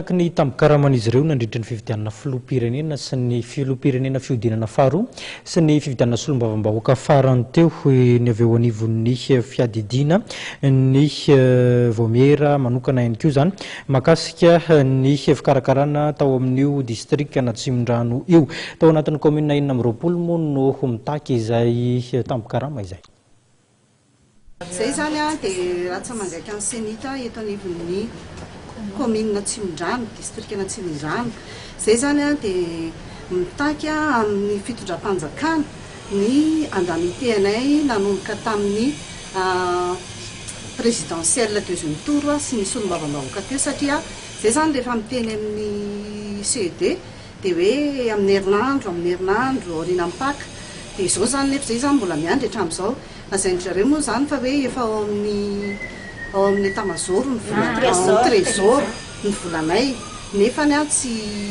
Araka ny tambin-karaman'izy ireo nandritra ny fifidianana filoham-pirenena sy ny filoham-pirenena fihodinana faharoa sy ny fifidianana solombavambahoaka farany teo, hoy ny avy eo anivon'ny fiadidiana ny Vaomiera manokana ihany koa izany mahakasika ny fikarakarana tao amin'io distrikan'Atsimondrano io. Tao anatin'ny kaominina enina amby roapolo moa no mitaky izay tambin-karama izay. Izay izany dia raha tsy mangaika ny Cenita eto anivon'ny kaominina Tsimondrano, distrikan' Antsimondrano. Izay izany dia mitaky amin'ny fitondram-panjakana ny andamitehanay nanomboka tamin'ny présidentielle deuxième tour sy ny solombavambahoaka teo satria izay izany rehefa miteny amin'ny CED, Dia hoe amin'ny herinandro, amin'ny herinandro, aorianan'ny Paka. Dia izao izany nefa izay izany mbola miandry hatramin'izao. Lazain-dry zareo moa izany fa hoe efa ao amin'ny, ao amin'ny etamazoro ny volanay, ao amin'ny trésor ny volanay. Nefany an, tsy,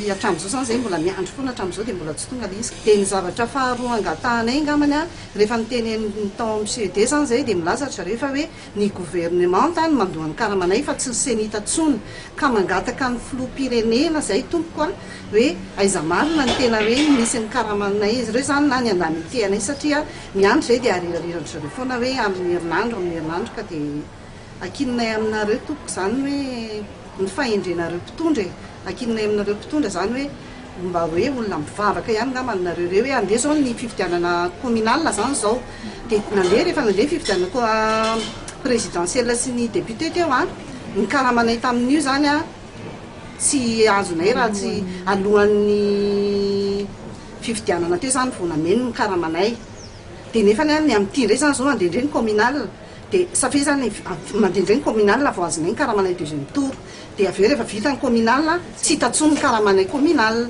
hatramin'izao izany izay mbola miandry foana hatramin'izao dia mbola tsy tonga ilay izy. Dia ny zavatra faharoa angatahanay angambany an, rehefa niteneniny tao amin'ny CED izany izay dia milaza ry zareo fa hoe, Ny governemanta no mandoa ny karamanay fa tsy ny cenita tsony ka mangataka ny filoham-pirenena zay tompoko a, hoe aiza marina ny tena hoe misy ny karamanay izy ireo zany na ny indemnité anay satria ny andro zay dia arirariran-dry zareo foana hoe amin'ny herinandro amin'ny herinandro ka dia ankininay aminareo tompoko zany hoe ny fahendrenareo mpitondra e. Ankininay aminareo mpitondra izany hoe mba hoe olona mivavaka ihany angamba ny nareo ireo hoe andeha izao ny fifidianana communal izany izao dia nandeha rehefa nandeha ny fifidianana présidentielle sy ny député teo an, ny karamanay tamin'io izany an tsy azonay raha tsy alohan'ny fifidianana teo izany vao nameno ny karamanay dia nefany an ny amin'ity indray izany izao andeha indray ny communal. Dia satria zany mandeha indray ny communal vao azonay ny karamanay deuxième tour, dia avy eo rehefa vita ny communal tsy hita intsony ny karamanay communal.